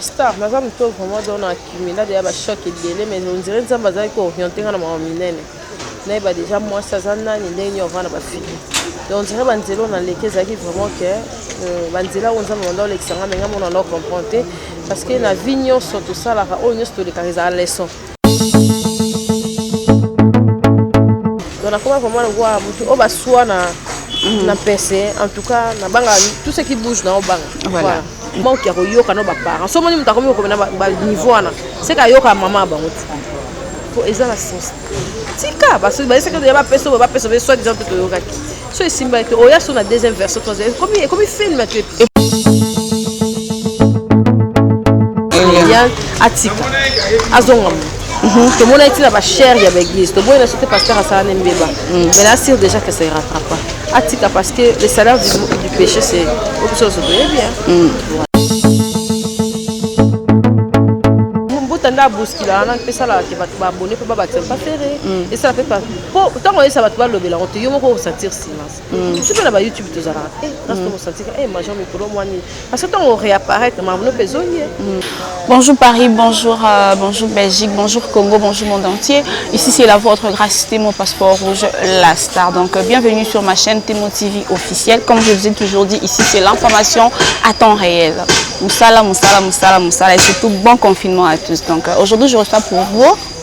star naza moto oyo vraiment donc na accumula deya bachoc ebele mais ondire nzambe azalaki kooriente nga na mama minene nayeba deja mwasi aza nani ndenge nini ovanda bafili donc ondire banzela oyo naleki ezalaki vraiment ke euh, banzela oyo nzambe banda olekisa nga me nga mona na comprendre te parce que na vie nyonso tosalaka oyo nyonso tolekaka ezala leçon Donc nakoma vraiment lokola motu oyo baswa na mm. na pese en tout cas nabanga tout ce qui bouge na obanga voilà. voilà. manque ya koyoka na baparent so omoni moto akomi kokoma na baniveau wana seke ayoka ya mama ya bango ti po eza na sens tika basoki bayesekeya bapeso boye bapeso be soi disant mpe toyokaki so esimba ete oya so na deuxième version troisième ekomi ekomi film to episode Eliane atika azonga mu tomonaki ntina bachere ya baeglise toboyi na so te pasteur asala ne mbeba mais na assure déjà que ça ne rattrape pas atika parce que le salaire du, du péché c'est obiso oso toyebi mbuta nde abuskila wana mpe esalaka te bato baabone mpe babatisa mpa fere esalaka mpe po ntango oyesa bato balobela yango te yo moko osentir silence hmm. soki na bayoutube tozalaka te place tokosentir e major mikolo mwa nini parce que ntango oréapparaître mamono mpe ezongi ye hmm. Bonjour Paris, bonjour, euh, bonjour Belgique, bonjour Congo, bonjour monde entier. Ici c'est la votre grâce, mon passeport rouge, la star. Donc euh, bienvenue sur ma chaîne Témo TV officielle. Comme je vous ai toujours dit, ici c'est l'information à temps réel. Moussala, moussala, moussala, moussala. Et surtout bon confinement à tous. Donc euh, aujourd'hui je reçois pour vous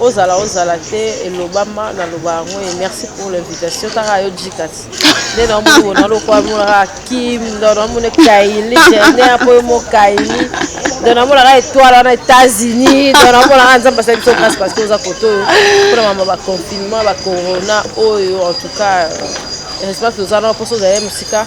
Ozala ozala te elobama na loba yango et merci pour l'invitation kaka yo djikat nde na omoni wona lokwa mona kaka kim ndo na omoni kaili jende apo yo mo kaili ndo na mona na etoile wana États-Unis ndo na mona na nzambe asali biso grâce parce que oza koto oyo pona mama ba confinement ba corona oyo en tout cas respect toza na poso ozali mosika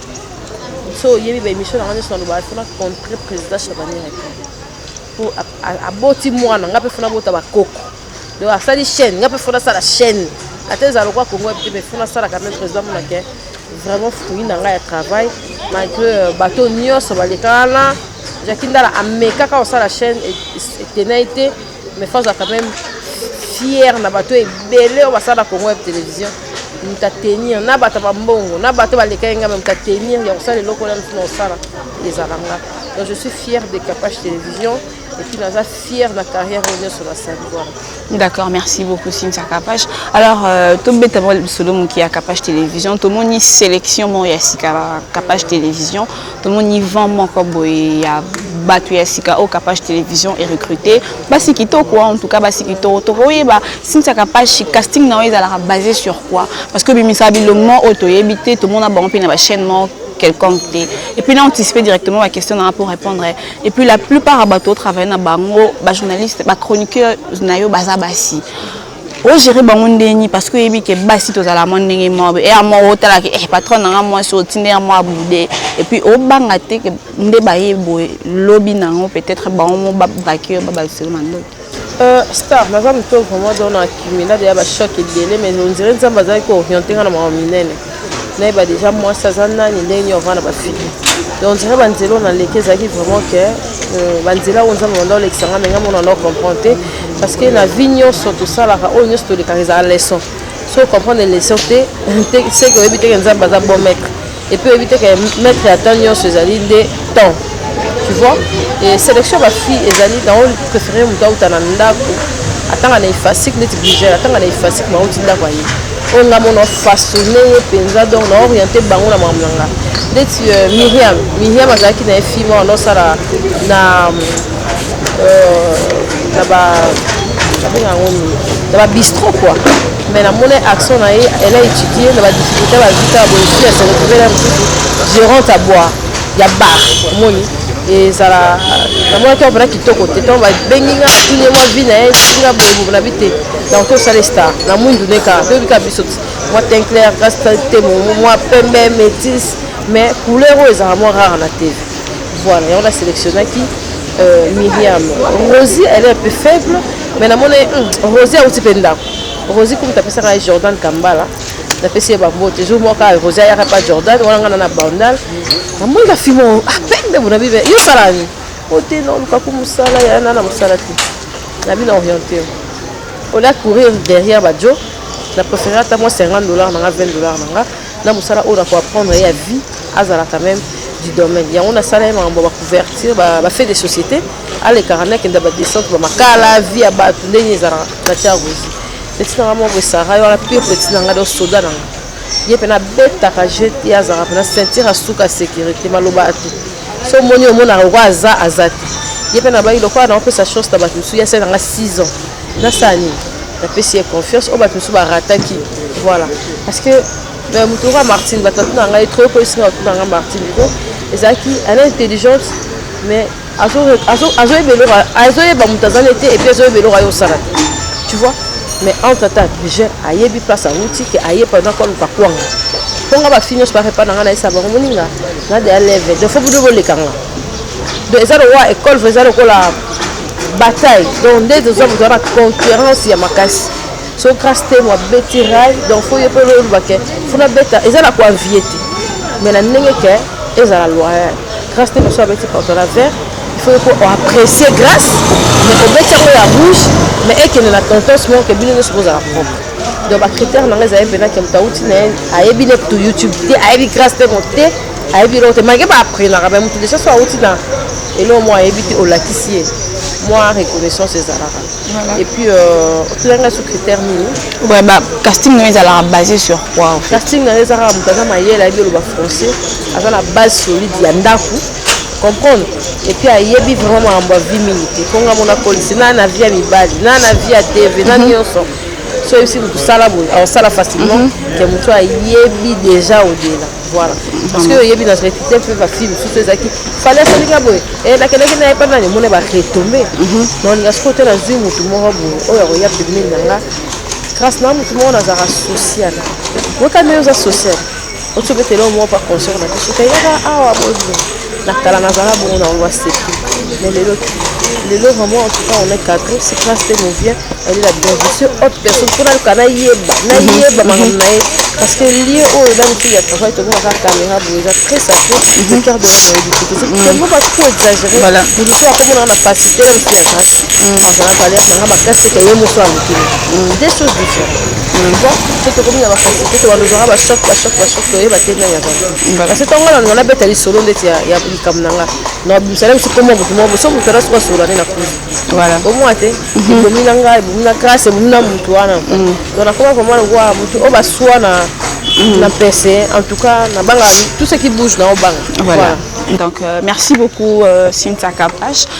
soki oyebi ba émission na nga nyonso nalobaka fona contre président chabanere te po aboti mwana nga mpe fona bota bakoko donc asali chaîne nga mpe fona asala chaîne ata ezala lokwa kongo ya bite mais fona asalaka meme président monake vraiment fruit na ngai ya travail malgré euh, bato nyonso baleka wana jaki ndala amekaka kosala chaîne etenai te Mais faut quand même fier na bato ebele oyo basala na Congo Web Television moto atenir na bato ba mbongo na bato balekaki ngai moto atenir ya kosala eloko wana mosusu na kosala ezala nga donc je suis fier de Kapash Télévision et puis naza fier na carrière oyo nyonso nasali wana D'accord, merci beaucoup Cynthia Kapash. Alors, euh, tobeta mwa lisolo moke ya Kapash Télévision, tomoni sélection moko ya sika ya Kapash Télévision, tomoni vent moko boye ya bato ya sika oyo kapash télévision erecrute basi kitoko en tout cas basi kitoko tokoyeba since ya kapash casting na yo ezalaka basé sur quoi parce que obimisaka bilongo oyo toyebi te tomona bango mpe na bachaîne moko quelconque te et puis na anticipe directement ba question nanga pour répondre et puis la plupart ya bato otravaille na bango bajournaliste bachroniqueur na yo baza basi mm -hmm. o gérer bango ndeni parce que oyebi ke basi tozala mwa ndenge moko eya moko otala ke eh patron na nga mwasi otinde ya mwa bude et puis obanga te ke nde baye boye lobi na yango peut-être bango mo babrake yo babakiselo na ndoki euh, star naza moto vraiment donc na kimina deya bachoc ebele mais ondire nzambe azalaki kooriente nga na mawa minene nayeba deja mwasi aza nani ndenge nini avanda ba fille donc nzela banzela oyo naleki ezalaki vraiment ke euh, banzela oyo nzambe banda olekisa nga menga mona nao comprendre te parce que na vie nyonso tosalaka oyo nyonso tolekaka ezala leçon so comprendre leçon te seke oyebi teke nzambe aza bon maître epuis oyebi teke maître ya temps nyonso ezali nde temps tu vois et sélection ba fille ezali na o préféré moto auta na ndako atanga na efasique neti brigel atanga na efasique ma auti ndako aye oyo nga mona façonne ye mpenza donc na oriente bango na makambo na nga neti euh, miriam miriam azalaki na ye fille moko nosala na euh, na ba nabenga yango nini na ba bistro quoi mais namoni action na ye elle a étudié na ba difficulté bazita boye fille aseretrouve na mosusu gérante aboire ya bar omoni ezala namonaki yango mpena kitoko te ntango babengi nga tunie mwa vi na ye nga boyebobo na bi te nakoki osala star na mwindu neka toyebi kaka biso mwa tinclair grace te mwa pembe métis mais couleur oyo ezalaka mwa rare na tv voilà yango na sélectionnaki euh, miriam rosi elle est un peu faible mais namoni hmm, rosi auti mpe ndako rosi kumta apesaka ye jordan kambala napesi ye bambote jour moko kaka rosi ayaka pa jordan wana ngana na bandal namoni na fimo apembe ah, bonabi be yo salani ote na olukaku mosala ya nana mosala te nabi na oriente olia courir derrière bajo na préféré ata mwa 50 dollars na nga 20 dollars na nga na mosala oyo nakoapprendre ye ya vie azala quand même du domaine yango nasala ye makambo ya bacouverture bafait de société ba alekaka nde akenda ba descente ba makala vie ya bato ndenge ezalaka na tiagozi petit nanga moko esara yo wana pire petit nanga do soda nanga ye mpe nabetaka je te azalaka mpena ceinture ya suka ya sécurité maloba ya te so omoni omonaka lokola aza aza te ye mpe nabaki lokola nakopesa chance na bato mosusu ya sai nanga 6 ans nasala nini napesi ye confiance oyo bato mosusu barataki voilà parce que euh, moto lokola martine bato atuna ngai trop ekoyisi ngai batuna ngai martine po ezalaki ana intelligente mais azoyeba eloko azoyeba moto azali te epuis azoyeba eloko ayo osala te tu vois mais entre temps grigel ayebi place awuti ke aye pendant koluka kwanga mpo nga bafi nyonso barepa na nga nayesa bango moninga na deya leve donc fo bino boleka nga donc eza lokola ekole eza lokola bataille donc nde tozwa moto wana concurrence ya makasi so grace temo abeti rai donc fo ye mpe oloba ke funa beta eza na koavie te mais na ndenge ke ezala loyal grace temo so abeti porto na vert il faut ko apprécier grace mais obeti yango ya bouche mais ekende na tontons moko ke bino nyonso bozala propre donc bacritère na ngai ezali mpena ke moto auti na ye ayebi ne to youtube te ayebi grace temo te ayebi eloko te malgre baapprenaka mais moto deja so auti na eloko moko ayebi te olakisi ye mwa reconnaissance ezalaka Voilà. Et puis, euh, tu l'as sur critère nini Ouais, bah, casting nous ezalaka basé sur quoi en fait Casting nous ezalaka moto aza mayele ayebi oloba français, aza na base solide ya ndako comprendre et puis ayebi vraiment makambo ya vie mingi te mpo nga mona kolisi na na vie ya mibali na na vie ya tv na nyonso so oyebisi moto sala boye aosala facilement ke moto ayebi déjà odela Voilà. Parce que oyebi na repite mpe bafille mosusu ezalaki fale asalinga boye eh, nakendaki na ye mpa nani omona baretombe mhm. naolinga sikoyo te nazwi motu moko boye oyo akoya pembeni na nga grâce na motu moko nazalaka social wekami oza social otiobetela oyo moko mpa concert na biso kayaka awa boye Na kala nazala bongo na ngo asepi. Mais lelo lelo vraiment en tout cas on est quatre c'est classe te movien elle est la bien je suis autre personne pour la kana yeba na yeba makambo na ye parce que lieu oyo eza motu ya travail tokomi aka caméra boye eza très sacré le cœur de l'homme oyebi te tozo yango ba trop exagéré mosusu akomonaka na pasi te na mosusu ya grâce azala pale azanga makasi te ye mosusu alukili des choses différentes donc mpe tokomi na bakasi te tobanda ozwaka bachoc bachoc bachoc toyeba te ndenge azali nga kasi ntango nga na nabeta lisolo ndeti ya likambo na nga nabimisa na biso komwa motu moko so motu ana soki asolola nde na kuzu omwa te mhm. ebomi na ngai ebomi na grâce ebomi na motu wana mhm. donc nakoma vraimen lokola motu oyo baswa na mhm. na mpese en tout cas nabanga tout ce qui bouge na obanga voilà donc euh, merci beaucoup euh, Cynthia Kapash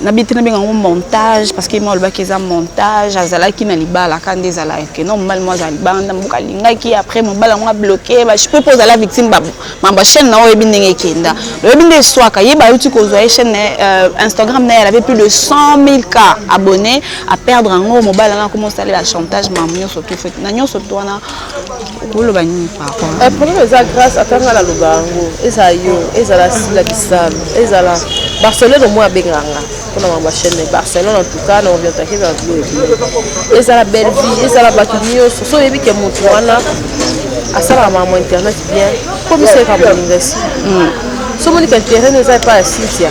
na bite na benga ngo montage parce que moi olobaki eza montage azalaki na libala ka nde ezala que non mobali mo azala libala nda mboka alingaki après mobali yango abloke bachipe mpo ozala victime babu mambo chaîne na oyebi ndenge ekenda oyebi nde eswaka ye bayuti kozwa ye chaîne euh, instagram na ye alave plus de 100 000 cas abonné aperdre yango mobali yango akoma osalela chantage mamu nyonso tout fait na nyonso to wana Eh, problème eza grâce ata nga naloba yango ezala yo ezala sila bisalu ezala barcelone omoi abengaka nga mpona mama chaîne mais barcelone en tout cas na orientake na bilo ebele ezala bellevie ezala bato nyonso so oyebi ke motu wana asalaka mama internet bien komisa ye ka moninga esi hmm. so omoni ka internet eza epai ya cynthia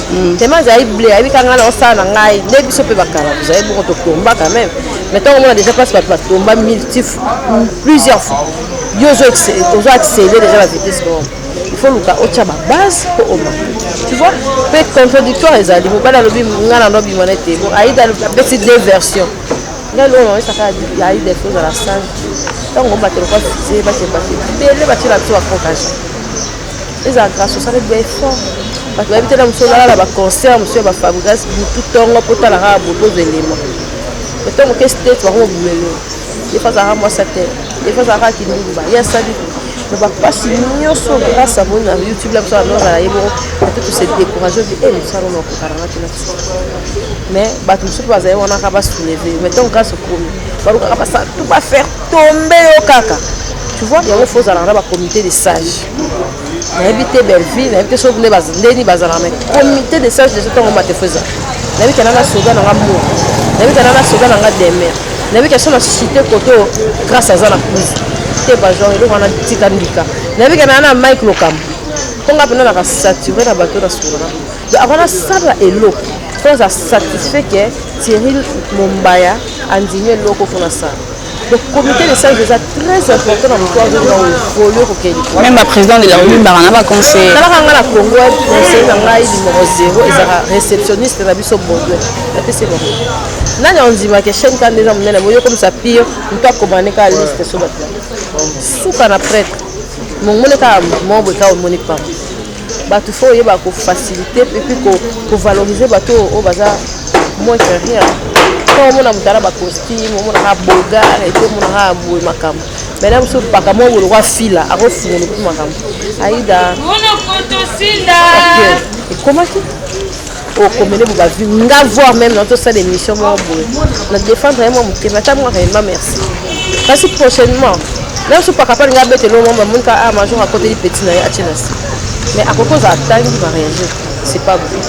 Mm, tema azali ble ayebi kanga na osala na ngai nde biso mpe bakala tozali bongo totomba quand même mais ntango omona déjà place bato batomba multiple plusieurs fois yo ozo accélere déjà la vitesse bongo il faut luka otya babase mpo oma tu vois mpe contradictoire ezali mobali alobi ngai nano bima na ete bon aida apesi deux version ngai loo naoyesaka aida il faut ozala sage ntango obatela kwa fize bakebake ebele batyela biso baconcage Ezala grâce osali ba effort. Bato bayebi te na mosu olala na ba concert mosu ya ba Fabregas butu tongo po tala kaka boye bozo elema. Mais tongo ke state bako bumelo. Des fois azalaka mwasi te. Des fois azalaka kindumba. Ye asali mais ba pasi nyonso grâce à moni na YouTube la biso na nozala ye bongo peut-être se décourager bi eh mosala na kokana na tina mais bato mosusu bazali wana ka ba soulever mais tongo grâce okomi balukaka basala tout ba faire tombe yo kaka tu vois yango faut ozalaka na ba comité de sage nayebi te belleville nayebi te soki nde ndeni bazalaka na comité de sage deja ntango mate faut ezala nayebi kana na soda nanga mo nayebi kana na soda nanga demer nayebi kaso na site koto grâce aza na plus te bagenre eloko wana tika ndika nayebi kana na mike lokambo mpo nga mpenza naka sature na bato na solola donc ako nasala eloko mpo naza satisfait ke thierry mombaya andimi eloko mpo nasala Donc comité de sages eza très important na moto azo na évoluer ko kende. Même ba président de la République ba na ba conseil. Tala kanga na Congo ya conseil na ngai numéro 0 ezaka réceptionniste na biso Baudouin. Na pese ba. Nani ondima ke chaîne kande na munene boyo comme ça pire moto akomane ka liste so ba. Suka na prêtre. Mongole ka mobwe ka omoni pamba. Batu faut oyeba ko faciliter et puis ko, ko valoriser batu oyo baza moins que rien. Quand omona moto na ba costume, omona ka boga et puis omona ka boye makambo. Mais là biso paka mo bolo kwa fila, ako fungulu pe makambo. Aida. Mona koto sinda. Et comment tu okomele bo bavi nga voir meme na tosala émission moko boye na défendre ye mwa motema ata mwaka yemba merci kasi prochainement même so pakapani nga abeteli o mama monika a ah, major akoteli petit na ye atie na se mais akoki ozala tangi mariage c'est pas bon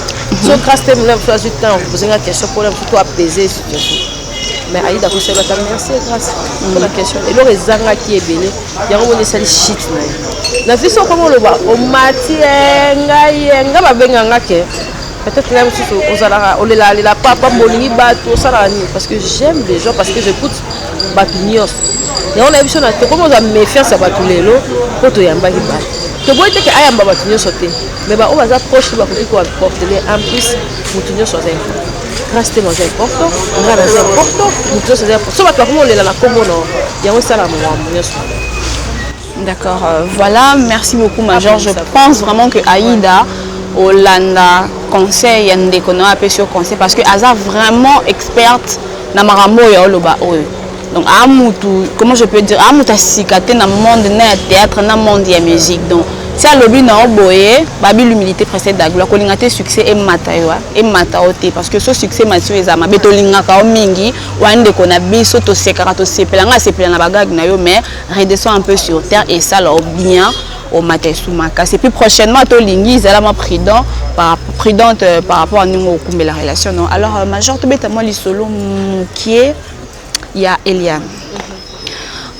so grâce te mona mosusu azwi temps ozenga question mpona mosusu to apaiser situation mais aida akosala ata merci grace mpona question eloko ezangaki ebele yango moni esali shit na ye na biso okoma oloba omati ngai ngai babenga nga ke peut-être là mosusu ozalaka olelalela papa bolingi bato osalaka nini parce que j'aime les gens parce que j'écoute bato nyonso yango na ye biso na tokomi oza méfiance ya bato lelo mpo toyambaki bato toboyi te ke ayamba bato nyonso te mais baoyo baza proche te bakoki koaportele en plus moto nyonso aza Grace Temo aza importo, Ngana aza importo, moto nyonso aza importo. So bato bakomi kolela na kombo na yango esala makambo nyonso. D'accord, euh, voilà, merci beaucoup Major. Je pense vraiment que Aïda, Olanda, conseil, Yande, qu'on a appelé sur conseil, parce que Aza vraiment experte dans Marambo et Oloba. donc a mutu comment je peux dire a mutu asika te na monde na ya théâtre na monde ya musique donc ti alobi na yo boye babi l'humilité précède la gloire kolinga te succès emata yo emata yo te parce que so succès emati yo eza mabe tolingaka yo mingi wana ndeko na biso tosekaka tosepela ngai asepela na bagage na yo mais redescend un peu sur terre esala yo bien omata esu makasi epuis prochainement tolingi ezala mwa prudent par, prudente euh, par rapport à ndenge okumbela relation non alors euh, major tobeta mwa lisolo mokie ya Eliane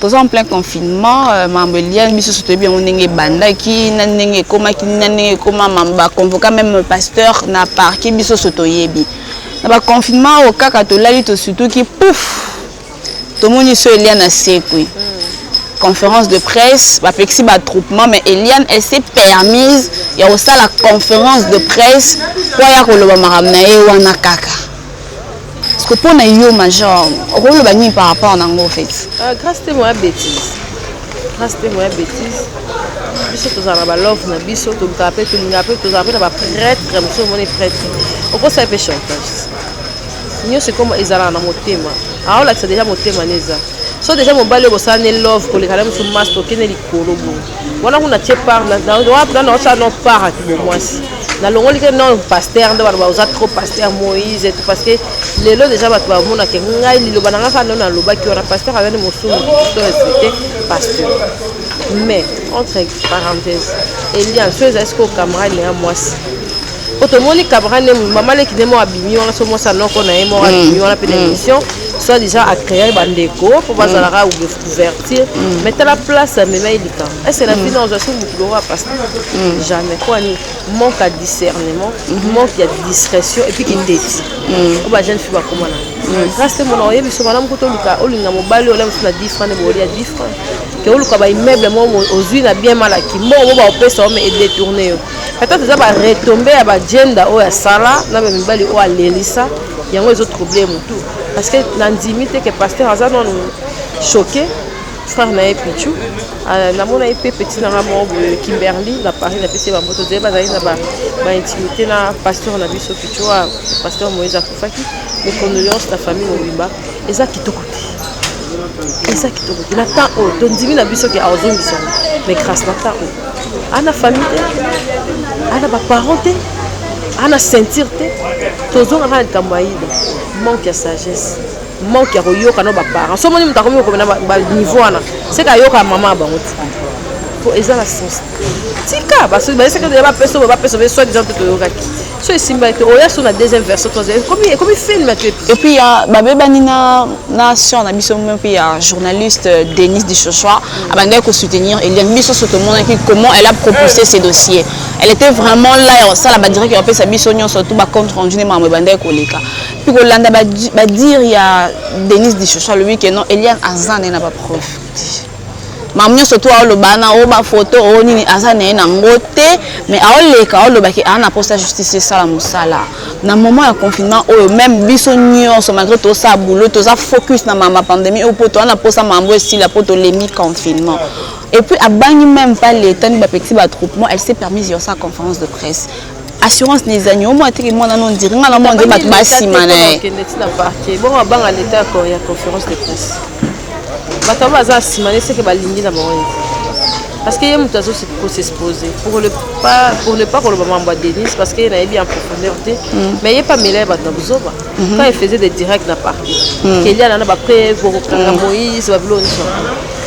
toza en plein confinement euh, mambo eliane biso so toyebi yango ndenge ebandaki na ndenge ekomaki na ndenge ekoma mambo baconvoka même pasteur na parke biso so toyebi na baconfinement oyo kaka tolali tosutuki pouf tomoni so eliane asekwi conférence de presse bapekisi batroupement mais eliane elle s'est permise ya kosala conférence de presse mpo aya koloba makambo na ye wana kaka Siko pona yo major okoloba nini par rapport na ngo fait? Ah, grâce te moya bêtise. Grâce te moya bêtise. biso tozala na balove na biso tolukaka mpe tolingaka mpe tozala mpe na bapretre mosusu omoni pretre okosala mpe chantage nyonso ekoma ezalaka na motema aolakisa deja motema ne eza so deja mobali oyo bosala ne love koleka na mosusu mas tokende likolo boye wana kuna tie par wana naosa no par ya kibomwasi nalongoli ke non paster nde bato baoza trop paster moïse etu parce que lelo deja bato bamonake ngai liloba na ngai kaka ndo nalobaki wana paster azali mosumu to respecte paster mais entre parenthèse elian so ezali sikoyo camarade na ya mwasi po tomoni camarade ne mama leki nde moko abimi wana so mwasi anoko na ye moko abimi wana mpe na émission soit disant acreer bandeko mpo bazalaka couverture mm. mais tala place amemaki likambo ese na bino ozwa soki motu loko ya pasta jamais mpo ani manque ya discernement mm-hmm. manque ya discrétion epuis kiteti mm. oyo bajeune fille bakoma na mm. grâce te mona oyebi so malamu kuta oluka olinga mobali ola mosu na 10 franc nde bolia 10 franc ke oluka baimmeuble moko ozwi na bien malaki mbongo bo baopesa yo ma edetourne yo peut-être eza baretombe ya bagenda oyo asala na bamibali oyo alelisa yango ezotrouble motu parce que nandimi te ke pasteur aza nanu choqué frère na ye pichu ah, namonaki mpe petit nanga moko boye kimberly na paris napesi ye bamboto zeye bazali na baintimité na pasteur na biso pichu wa ah, pasteur moïse akufaki mes condoléance na famille mobimba eza kitoko te eza kitoko te na temps oyo tondimi na biso ke azongisana mais grâce na temps oyo ana famille te ana baparent te ana ceinture te tozongaka na likambo ya ida manque ya sagesse manque ya koyoka na baparent so moni moto akomi kokoma na baniveau wana seke ayoka mama ya bango ti po eza na sens tika basoki bayesekaya bapesa bapesa be soi disant te toyokaki so esimba ete oya so na deuxième version troisième ekomi ekomi film ate et puis ya babebani na na sœur na biso mpe ya journaliste euh, Denise Dichochoa abandaki ko soutenir Eliane biso so tomonaki comment elle a propulsé ses dossiers elle était vraiment là ya kosala ba direct ya kopesa biso nyonso tout ba compte rendu ne makambo ebandaki koleka mpe kolanda badire ya Denise Dichochoa alobi ke non Eliane aza nde na bapreuve mamu nyonso tu aoloba na o bafoto o nini aza na ye na ngo te mais aoleka aoloba ke aa na mposa justice esala mosala na moment ya confinement oyo meme biso nyonso malgré tosala boulot toza focus na mama pandemie oyo mpo toa na mposa mambo esila mpo tolembi confinement et puis abangi meme pas leta ni bapeti batroupement elle s'est permise yosa conférence de presse assurance na ezangi omo atiki mwana no ondiri nga na mwa nde bato basima na ye bongo abanga leta ya conférence de presse bato abo baza nsima ne seke balingi na bango parce que ye moto azo kosexpose pour ne pas pour ne pas koloba mambo ya denise parce que ye nayebi en profondeur te mm. mais ye pamela ye bato na buzoba mm-hmm. quand il faisait des directs na parti mm. kelia nana bapreuve bokokanga mm. moïse babilo nyonso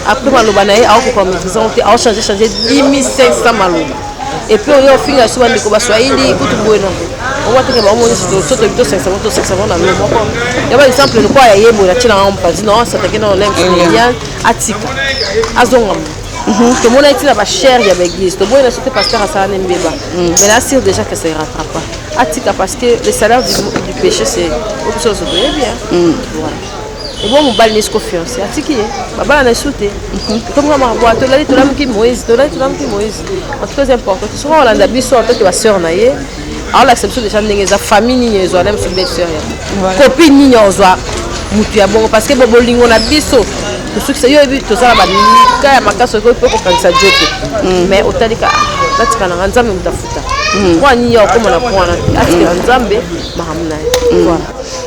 après maloba na ye aokoka maîtrise yango te aochange change 10500 maloba et puis oyo ofinga suba ndeko baswahili kutu boye na boye owateke bango monisi tosoto bito sangisa bango tosangisa bango na lo moko ya ba exemple lokola ya ye boye natie na yango mopanzi no satake na olympe familial atika azonga mo mhm. tomonaki ntina bachere ya baeglise toboyi na sote pasteur asala ne mbeba mm. mais na assure déjà que ça ne rattrape pas atika parce que le salaire du, du péché c'est obiso ozoboye bien mm. voilà ebo mobali nesi ko fiance atiki ye babala na esu te tokomika makaboa tolali tolamuki moïse tolali tolamuki moïse en tout cas important te soki olanda biso atoke basœur na ye aolakisa biso deja ndenge eza famille nini ezwa na biso belle sœur ya kopi nini ozwa motu ya bongo parce que bo bolingo na biso tosukisa yo yebi toza na bamika ya makasi okoki mpe kokangisa jo te mm. mais otalika natika nanga nzambe moto afuta mpo mm. anini ya okoma na mpo wana atikela nzambe makambo na ye mm.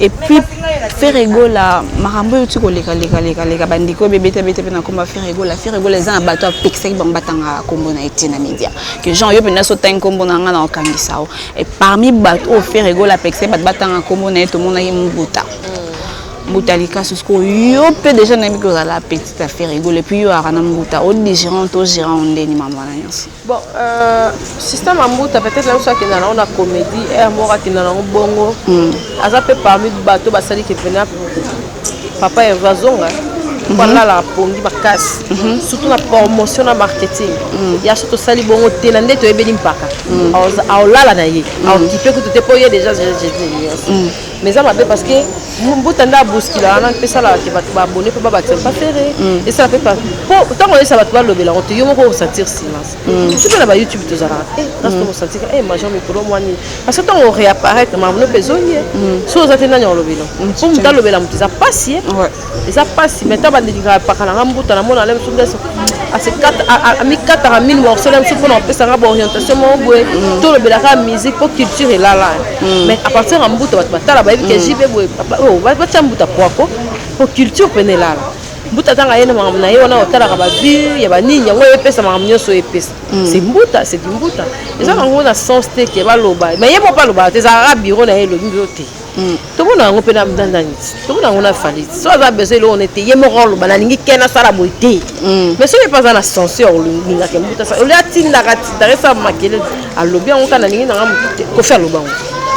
et puis Ferre Gola makambo oyo tiko leka leka leka leka bandiko be beta beta pe na komba Ferre Gola Ferre Gola eza na bato apekisaki bango batanga kombo na ete na media que genre yo pena so tangi kombo na nga na okangisa yo et parmi bato oyo Ferre Gola apekisaki bato batanga kombo na ye tomonaki Mbuta mbuta likasu sikoyo yo mpe deja nayebi kozala petite affaire egolo epuis yo aka na mbuta odigérant to gérant ondeni mambo wana nyonso Bon, euh, sister Mambuta, peut-être même soit qu'il a la comédie, et à moi qu'il a la bongo. Mm. Aza pe parmi les bateaux, bah ça dit que pena papa est vazonga. Voilà la pongi makasi. Surtout la promotion na marketing. Mm. Ya surtout sali bongo te na ndeto ebeli mpaka. Mm. Aolala na ye. Aokipe kutu te po ye déjà je je dis. mais eza mabe parce que mbuta nde abuskila wana mpe esalaka te bato baabone mpe babatisa mpa fere mm. esala mpe po ntango oyesa bato balobela yango te yo moko osentir silence mm. biso mpe na bayoutube tozalaka te kasi tokosentika e major mikolo mwani parce que ntango oreapparaitre mamono mpe ezongi ye so oza te nani olobela mpo moto alobela moto eza mpasi ye eza pasi mais ta bandingaka epaka na nga mbuta namona ale mosusu ndeso amikataka mini morceau na biso mpona kopesa nga baorientation moko boye mm. tolobelaka musique mpo culture elala mm. mais à partir ya mbuta bato batala bayebi ke mm. jb boye oh, batya mbuta poako mpo culture pene elala mbuta atanga ye na makambo na ye wana otalaka bavue ya banini yango epesa makambo nyonso oyo epesa mm. se mbuta se dimbuta eza nango na sens te ke baloba ma ye moko alobaka te ezalaka biro na ye elobi yo te Hmm. tomona yango mpe nandani tomona yango na fali so aza besoin eloko ne te ye moko aloba nalingi ke nasala boye te hmm. mais soki mpe aza na censure olingaka mbuta oli atindaka atindaka esala makelele alobi yango kaka nalingi nanga motu te kofi aloba yango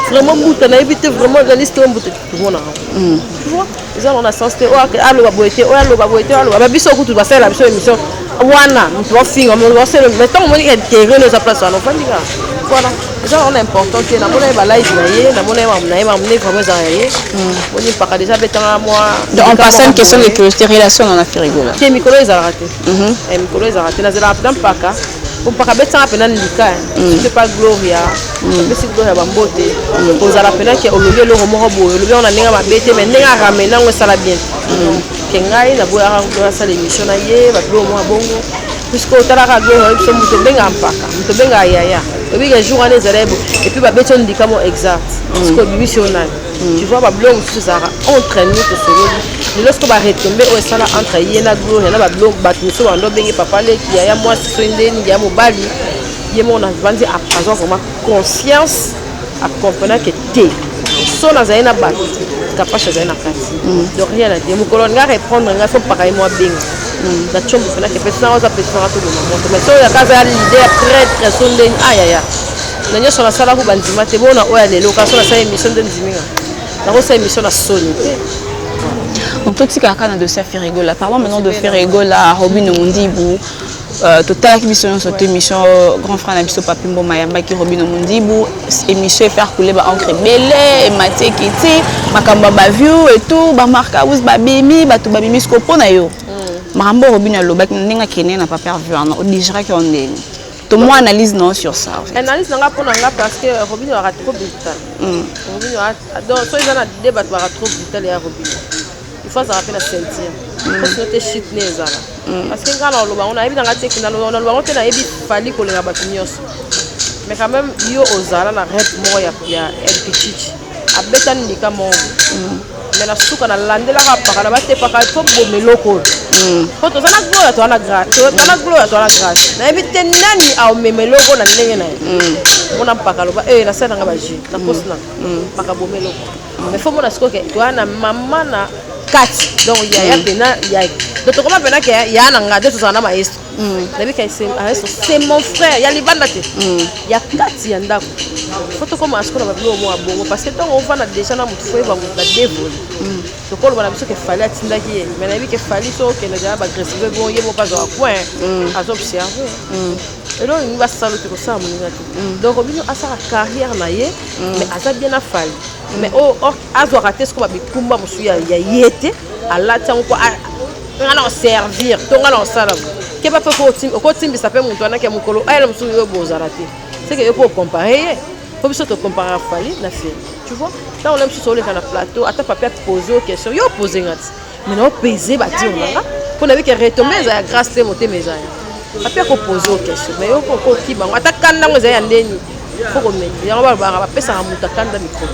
vraiment mbuta nayebi te vraiment journaliste oyo mbuta tomona yango hmm. eza na sens te oyo aloba boye te oyo aloba boye te oyo aloba biso kutu basalela biso émission wana moto bafinga moto basele mais ntango omoni intérêt no eza place wana ofandi kaka voilà eza wana important te namona ye balaive na ye namona ye mamu na ye mamune vraiment eza ya ye boni mpaka déjà abetanga mwa en passant une question de curiosité relation na na firigola te mikolo ezalaka te mikolo ezalaka te nazalaka mpenza mpaka mpaka abetanga mpena ndika mm. soki epa gloria mm. apesi gloria bambote mm. kozala mpena ke olobi eloko moko boye olobi yango na ndenge mabe te mai ndenge aramene yango esala bien ke ngai naboyaka gloria asala émission na ye babiloko mwa bongo puisque otalaka gloria oyebiso moto obengaka mpaka moto obengaka yaya obika jour wana ezala ye bo epuis babeti yo ndika mo exact soki obimisi yo nani tu vois babiloko mosusu ezalaka entre nous tosololi lelo siko baretombe oyo esala entre ye na gloria na babiloko bato mosusu bando obenge papa leki yaya mwasi soki ndeni yaya mobali ye moko navandi azwa vraiment conscience akomprenake te so nazali na bato kapashi azali na kati mm. donc rien na te mokolo nga reprendre nga fo mpaka ye mwa benga mm. na tshombo mpenake mpe sinango aza mpe sinango tolona moto mais soyaka aza leader très très so ndeni ayaya ah, na nyoso na sala ko bandima te bona oya lelo ka so na sala emission nde ndimi nga na ko sala emission na soni te donc totika kaka na dossier ya ferigola parlant maintenant de ferigola robino mundibu Euh, totalaki biso nyonso te émission euh, grand frère na biso papi mboma ayambaki robino mundibu émission efaire coule baencre ebele ematieki ti makambo ya baview etout bamark aus babimi bato babimi siko mpo na yo mm. makambo robino alobaki na ndenge akende na paper vue wana odigiraki yo ndenge to moi analyse non sur ça en fait. analyse nanga pona nga parce que Robinho aura trop brutal mm. Robinho a donc so eza na débat aura trop brutal ya Robinho il faut azala pe na ceinture mm. parce que te shit ne ezala mm. parce que nga na loba on ayebi nanga te kina loba na loba te na yebi fali kolenga bato nyonso mais quand même yo ozala na rep moko ya ya El Pichichi abetani ndika moko mm. me na suka nalandelaka apakana batepaka fo boma eloko oyo mm. po toza na gloria toza na grace toza na mm. gloria toza na grace nayebi te nani aomema eloko na ndenge na ye mona mpaka aloba e eh, nasali nanga bajus na posi na mpaka boma eloko me fo mona sikoke toza na mama na kati donc yaya mpena yaya donc tokoma mpena ke yaya na ngai nde tozala na maestro Mm. nayebi ka ayeso c'est mon frère ya libanda te mm. ya kati ya ndako fo tokoma sikoyo na babilo mwa bongo parce que ntango ovanda déjà na motu fo yeba motu badevoli mm. tokoloba na biso ke fali atindaki ye mai nayebi ke fali so okende jaa bagresive bon ye moko azwaka coin azoobserve eloko nini basala te kosala moninga te donc bino asala carrière na ye mais aza bien na fali mais oh, oh, azwaka te sikoyo babikumba mosusu ya ye te alati yango mpo nga na servir to nga na osala keba mpe okotimbisa mpe moto wana ke mokolo ayela mosusu yo bozala te seke yo mpo ocompare ye mpo biso tocomparaka fali na feri tu vois ntango na mosusu oleka na plateau ata papi apose yo question yo opose nga ti mai na opese badio na nga mpo na bike retombe eza ya grâce te motema eza ya papi akopose yo question mai yo mpo okoki bango ata kanda yango eza ya ndeni fo komete yango balobaka bapesaka moto akanda mikolo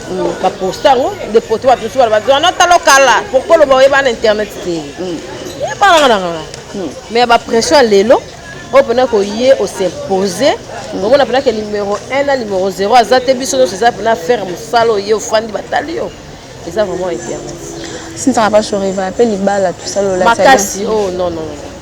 Mm, baposta yango nde poto bato mosusu bana bazwa na talo kala pourkoi loba oyeba na internet te mm. ebalanga na kala mm. mais ya bapression ya lelo oyo mpena koye osimpose omona mpena ke numero 1 na numero 0 aza te biso nyonso eza mpena faire mosala oye ofandi batali yo eza vraiment internet sinzaka bashoreva mpe libala tosalola makasi o oh, non non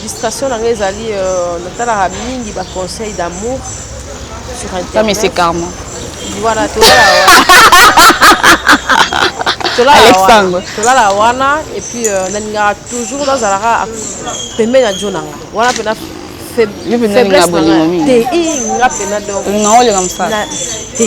Distraction na nga ezali euh, natalaka mingi ba conseils d'amour sur internet. Ça mais c'est karma. Voilà, tolala Alexandre. Tolala wana et puis euh, nalingaka toujours nazalaka pembeni ya jo na nga. Wana mpe na faiblesse na nga te. Nga mpe na donc. Nga olinga mosala. Te.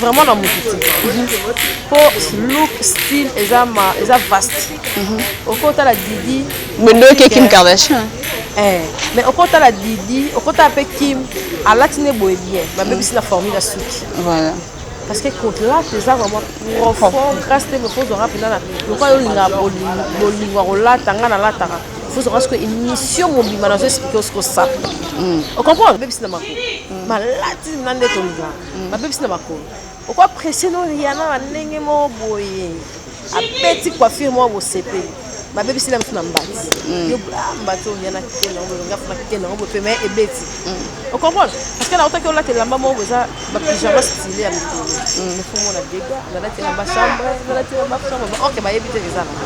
vraiment na mutu te po look style eza ma eza vaste okotala didi bondoki kim kardashian eh, mais okotala didi okotala mpe kim alati nde boye bien babebisi na formule ya suki voilà parce que kolata eza vraiment profond grâce te moko ozwaka mpenza na lokola olingaka bolingo ya kolata ngai nalataka fozwaka siko émission mobimba nazo explike osiko sape ocomprendre obebisi na mako malati na nde tolingaka Mm, babebisi na makolo okwa presse no riana na ndenge moko boye abeti coiffure moko bosepeli babebisi na biso na mbati mm. yo ah, mbati oyo yana kitenge yango boye ngafuna kitenge yango boye pema ebeti mm. okomprendre parce que nautaki olata elamba moko eza bapijama style ya mikolo nefomona dega nalati elamba chambre nalati elamba chambre ok bayebi te eza na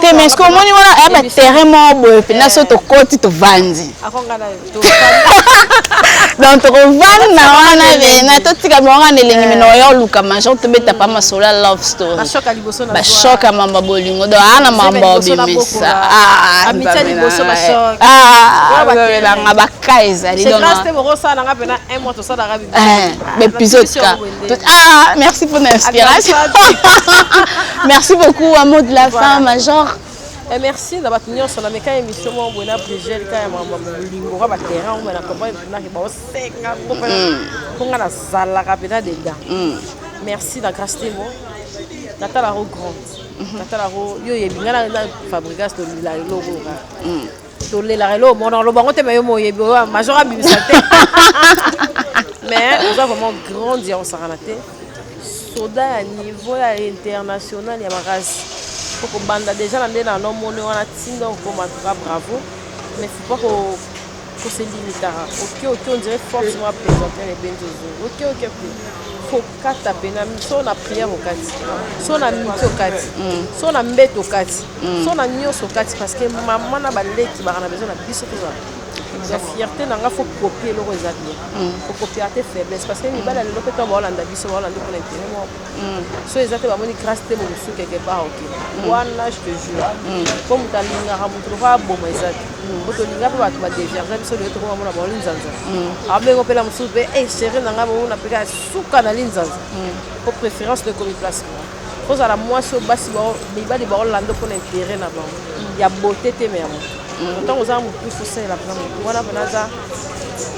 te mais soki omoni wana aya baterrain moko boye mpena so tokoti tovandi donc tokovandi na wana pena totika bango wana elengi mino oya oluka major tobeta pa masolo ya love story bashoka mamba bolingo donc aa na mamba obimisa babelanga baka ezali donc episode ka Tout... Ah, merci pour l'inspiration. merci beaucoup, un mot de la voilà. fin, Major. Eh, merci na bato nyonso na meka émission moko boye na brigel ka ya makambo molingo ka baterrain oyo na comprendre mpenaki baosenga mpo mm. nga nazalaka mpenza dedan mm. merci na grace temo natalako grande mm-hmm. natalako yo oyebi nga na fabrigas tolila eloko nga tolelaka eloko moko na lobango te me yo moyebi oyo major abimisa te mais oza vraiment grande ya osakana te soda ya niveau ya international ya makasi okobanda deja na nde na nomoni wana ntinda okoma tuka bravo mais faut pas koselimitaka oke oke ondire force mwa présente na ebenzi ozoi oke oke kata pe na so na prière okati so na miki okati mm. so na mbeto okati mm. so na nyonso okati parce que mama na baleki baka na besoin na biso tozala ya fierté na nga faut copie eloko eza bien mm. faut copier te faiblesse parce que mibali ya lelo mpe to baolanda biso baolanda mpona intérêt moko so eza te bamoni grâce te bomosu quelque part oke wana je te jure mpo moto alingaka moto lokola aboma eza te po tolinga mpe bato badeverge biso lelo tokoma mona bango linzanza abenge mpe na mosusu mpe e chéri na ngai bouna mpe kaka suka na linzanza po préférence to ekomi place moko kozala mwasi oyo basi mibali baolanda mpo na intere na bango ya bote te me ya moto ntango oza na mopusu osalela mpena motu wana mpena aza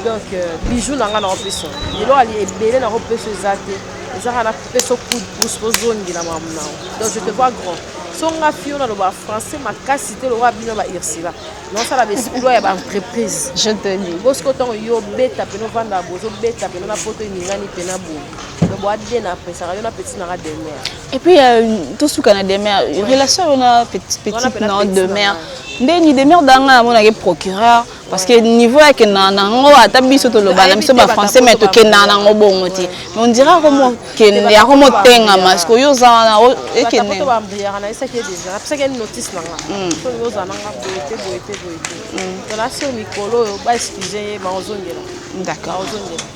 donc euh, bijou na ngai na opesa lelo ali ebele na opesa eza te Zara na coupe so coup de pouce ozongela mamu na donc je te vois grand so nga fio na loba français makasi te lokola bino ba ursula naosala baesploit ya baentreprise je te dis bosiko ntango yo obeta pene ovanda bozobeta pene na poto eningani pena boye donc boade na apesaka yo na petit nanga demer et puis euh, tosuka na demer relation yo na petite non demer nde ni demer danga amonaki procureur parce que niveau ya kendaka na yango ata biso toloba na biso bafrançais mai tokendaka na yango bongo te mais ondira akomokende akomotengama siko yo oza wana ekende d'accord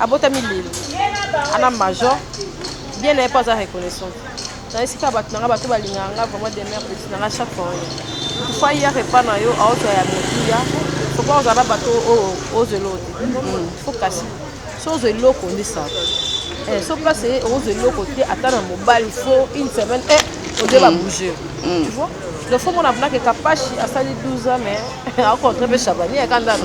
Abotami lelo ana major bien na ye mpo aza reconnaissant na esika bato na ngai bato balingaka ngai vraiment demeure petit na ngai chaque fois oyo tufa ya repas na yo aozwa ya motuya soki ozala na bato oyo ozwa eloko te hmm, fo kasi so ozwa eloko nde sala eh, so place ye ozwa eloko te ata na mobali fo une semaine e eh, ode babouge hmm. hmm. tu vois donc fo mona mnake kapashi asali 12 ans mais akontre mpe chabani ekandana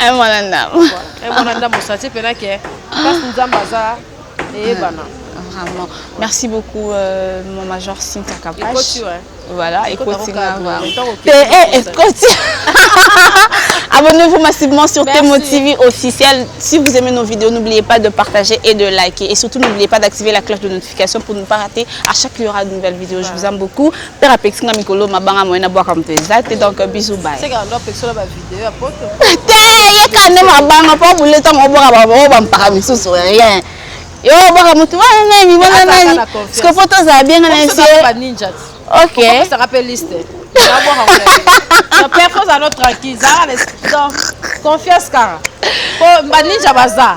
Eh, mwana ndambo eh, mwana ndambo sati mpena ke place nzambe aza eyebana ah, vraiment merci beaucoup euh, mon major Cynthia Kapash voilà ekoti nga te eh, ekoti abonnez-vous massivement sur Temo TV officiel si vous aimez nos vidéos n'oubliez pas de partager et de liker et surtout n'oubliez pas d'activer la cloche de notification pour ne pas rater à chaque il y aura de nouvelles vidéos je vous aime beaucoup Père apekisi nga mikolo mabanga moye nabwaka moto eza te donc bisou bye. Te yeka nde mabanga mpo bule ntango obwaka baoyo bampaka misusu rien yo obwaka motu wana nani wana nani siko mpo tozala bienga na esi ok confiance kaka mpo baninja baza